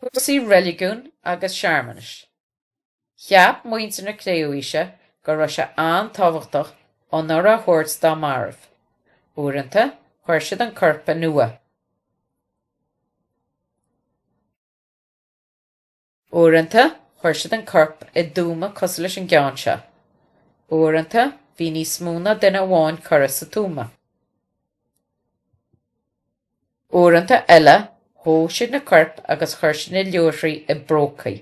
Cúrsaí reiligiúin agus searmanais, Cheap muintir na Cré-umhaoise go raibh sé an-tábhachtach onóir a thabhairt dá mairbh. Uaireanta, chuir siad an corp in uaigh. Uaireanta, chuir siad an corp i dtuama cosúil leis an gceann seo. Uaireanta, bhí níos mó ná duine amháin curtha sa tuama. Uaireanta eile, dhóigh siad na coirp agus chuir siad na luaithrí i bprócaí.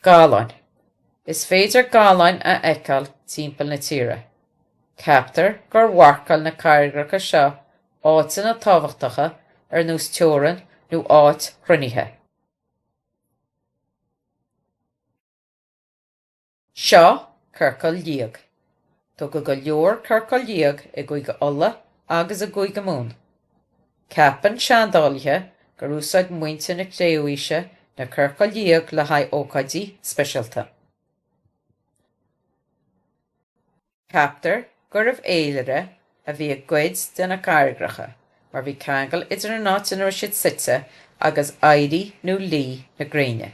Galláin, Is féidir galláin a fheiceáil timpeall na tíre. Ceaptar gur mharcáil na carraigreacha seo áiteanna tábhachtacha ar nós teorann nó áit chruinnithe. Seo Ciorcal Liag, Tógadh go leor ciorcail liag i gCúige Uladh agus i gCúige Mumhan. Ceapann seandálaithe gur úsáid muintir na Cré-umhaoise na ciorcail liag le haghaidh ócáidí speisialta. Ceaptar gurbh fhéilire a bhí i gcuid de na carraigreacha mar bhí ceangal idir an áit ina raibh siad suite agus éirí nó luí na gréine.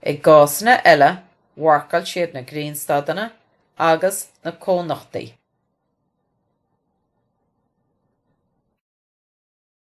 I gcásanna eile mharcáil siad na grianstadanna agus na cónochtaí.